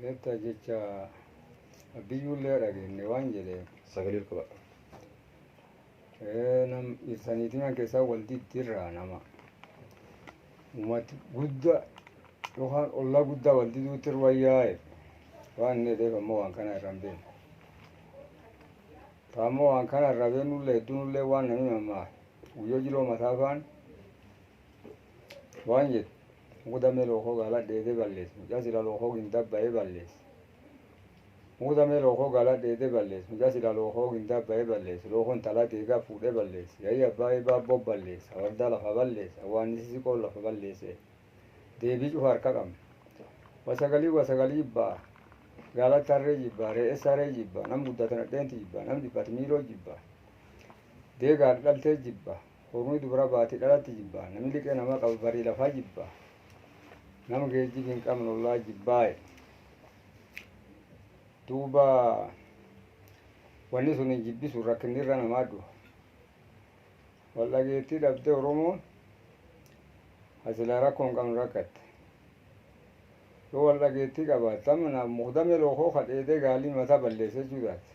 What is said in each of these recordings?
Beektaa jecha abbiyyuullee dhageenye waan jedhe sagalee qaba. Eh, nam ibsaniitiin kan keessaa wal diddirraa nama. Uummati guddaa yookaan ollaa guddaa wal diduutti irra yaa'e waan inni jedheef ammoo waan kana irra hin beekne. Taammoo waan kana irra beeknullee hedduunullee waan namni mammaa Guyyoo jiloo mataa faan waan jedhu muku damee lookoo gaala dheedee ballees mucaa sila lookoo gindaa bayee ballees muku damee lookoo gaala dheedee ballees mucaa sila lookoo gindaa bayee ballees lookoo intalaa deegaa fuudhee ballees yayii abbaa eebaa boo ballees awardaa lafa ballees awwaannisi siqoon lafa balleesee deebii cufa harka qabna wasagalii wasagalii jibbaa gaalatti harree jibbaa re'es saree jibbaa nam guddate nadheenti jibbaa nam dhiphate miiloo jibbaa Deega haadha dhaltee jibba. Kormi dubara baati dhalatti jibba. Nami liqe nama qabu bari lafa jibba. Nama geejjibi hin qabne ollaa jibbaaye. Duuba wanni suni jibbi sun rakkinni irra namaa duha. Wal dhageettii dhabde Oromoon hasilaa rakkoo hin qabne rakkatte. Yoo wal dhageettii qabaatte amma na mukdame lookoo kadheedee gaalii mataa balleesse jechuu taate.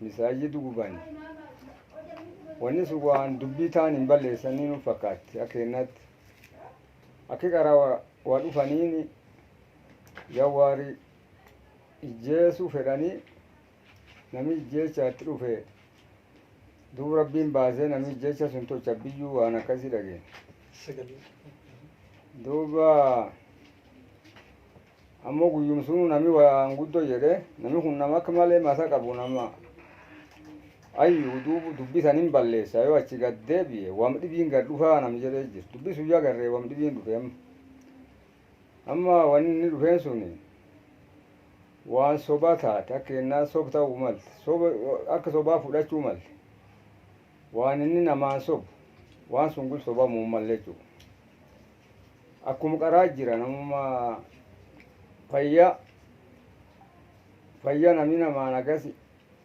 Misaajid guban. Wanni sun waan dubbii taan hin balleessanii nu fakkaatti akka kennaatti. Akki qaraa wa- waa dhufaniin jawwaari ijjeesuu fedhanii namni ijjeechaatti dhufe duub rabbiin baasee namni ijjeecha sun tocha biyyuu waan akkasii dhageen. Sagalee. Duuba Ammo guyyuma sunu nami waan guddo jed'e, Nami kun nama aka male masa qabu, nama hayyu, duuba dubbi tana imballeesa, yo achi gadi deebie, wam d'ibiini gadi d'ufa nami jed'e jira. Dubbi suni ya garre wam d'ibiini d'ufe amma. Amma woni inni d'ufeeni suni waan soba taate, aka keenna soba tau malte, soba aka sobaa fud'achu malle. Waan inni namaani sobu, waan suni gula sobamu malle jechu. Akkum qaraa jira namuma fayya fayya nami namaan agasi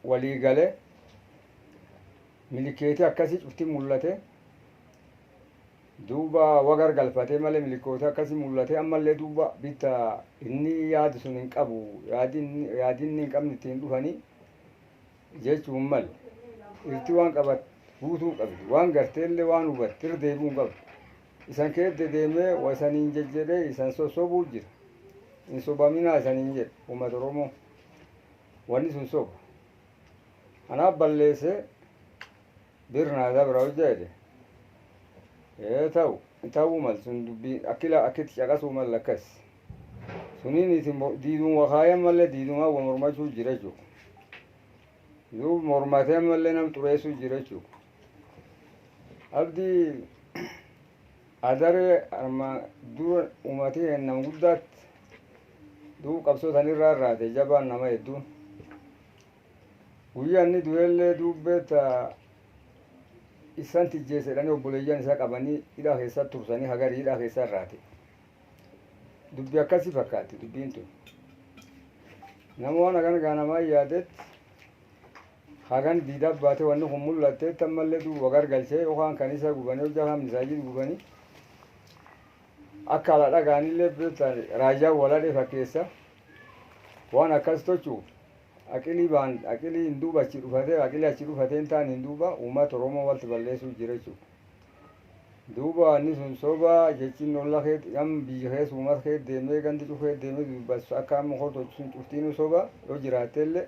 walii gale milikeeti akkasi cufti mullate duuba wa gargalfate male milikooti akkasi mullate ammallee duuba bitta inni yaadu sun hin qabu yaadin yaadinni hin qabne ittiin dhufanii jechuun mal irti waan qabat guutuu qabdi waan garteellee waan hubatte irra deebi'uu hin qabdu. Isan keet dedeemee wa isaniin jejjedhee isan sossobuu jira. Hin sobaminaa isaniin jedhe ummata Oromoo. Wanni sun soba. Anaaf balleesse bir naa dabra hojja jedhe. Ee ta'u ta'uu mal sun dubbiin akki la akkitti caqasuu mal akkas. Suniin isin diiduun wa kaayan malee diidumaa wa mormachuu jira jechuu. Duub mormatee ammallee nam xureessuu jira jechuu. Abdi adare armaan dura uumati keenna guddaatti du'u qabsoo san irraa irraate jabaan nama hedduun. Guyyaa inni du'ellee duubbeetta issan tijjeesse jedhanii obboleeyyan isa qabanii hidhaa keessa tursanii hagari hidhaa keessa irraate. Dubbi akkasi fakkaatti dubbiin tun. Nama waan akana gaa namaa yaadetti Hagan diidaa baate wanni kun mul'atteetti ammallee duub wagargalchee yookaan kanisaa gubanii hojjaa kaan misaajid gubanii akka ala dhagaanillee beektaan raayyaan waladhee fakkeessa waan akkas tochuuf aqilii baan aqilii hin duuba achi dhufatee aqilii achi dhufatee hin taane hin duuba uummata Oromoo walti balleessuu jira jechuudha. Duuba wanni sun soba jechiin olla keet nam biyya keessa uummata keet deemee gandi cuf keet deemee dubbas akka amma koo tochi sun cuftiinuu soba yoo jiraatteellee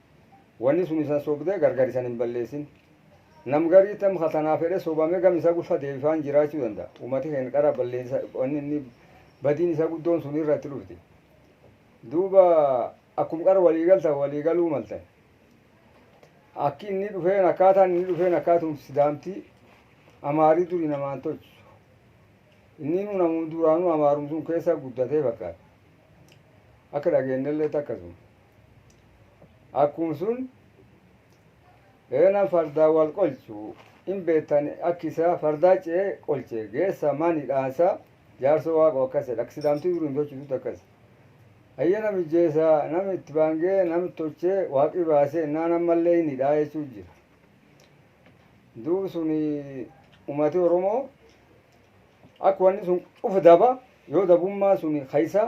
Wani sun isan sobde gargar isan hin ballesin nam garii tam ka tanaa fedhe sobame gam isa gufa debifaan jiraachu danda, umati keen qara ballesa wani inni badiin isa guddoon sun irra itti dhufti duuba akkum qar walii galtan walii galuu maltan akki inni dhufeen akkaataan inni dhufeen akkaatum sidaamti amaari duri namaan tolchu inniinu namum duraanu amaarum sun keessa guddatee fakkaata akka dhageennelleetti akkasuma Akkum sun Reena fardaa wal qolchu hin beettan akki isaa fardaa ce'e qolche geessa mani dhaansa jaarso waaqo akkas jedha akka sidaamti duri hin tolchitutti akkas hayya nam ijjeesa nam itti baangee nam tolche waaqi baase innaan ammallee hin hidhaa jechuu jira duub sun umati oromoo akka wanni sun cufu daba yoo dabummaa sun kaysa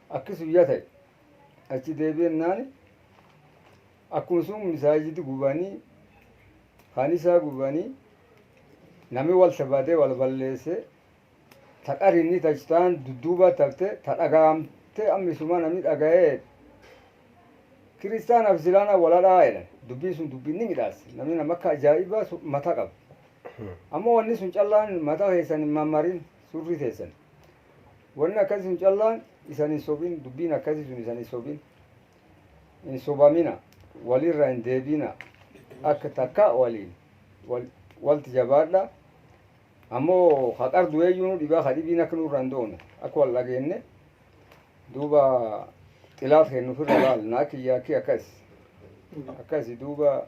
Akki sun ya ta'e. Achi deebi'ennaan akkuma sun misaajidi gubanii, kanisaa gubanii, nami walti badee wal balleesse, ta qarinni ta taan dudduubatti hafte, ta dhaga'amte amma isuma nami dhaga'ee jedhe. Kiristaanaa fi Islaanaa wal hadhaa jedhan. Dubbiin sun dubbii ni midhaassa. Nami nama akka ajaa'ibaa sun mata qaba. Ammoo wanni sun callaan mata keessan hin mammarin. Surri teessan Wanni akkasi sun callaan isan hin sobin dubbiin akkasi sun isan hin sobin hin sobamina walirra hin deebiina akka takka waliin wal walti jabaadha ammo ka qar du'eeyyuu nu dhibaa ka dhibiin akka nurra hin doone akka wal dhageenne duuba xilaat keenna ufirra laalna akka iyyaakki akkas akkasi duuba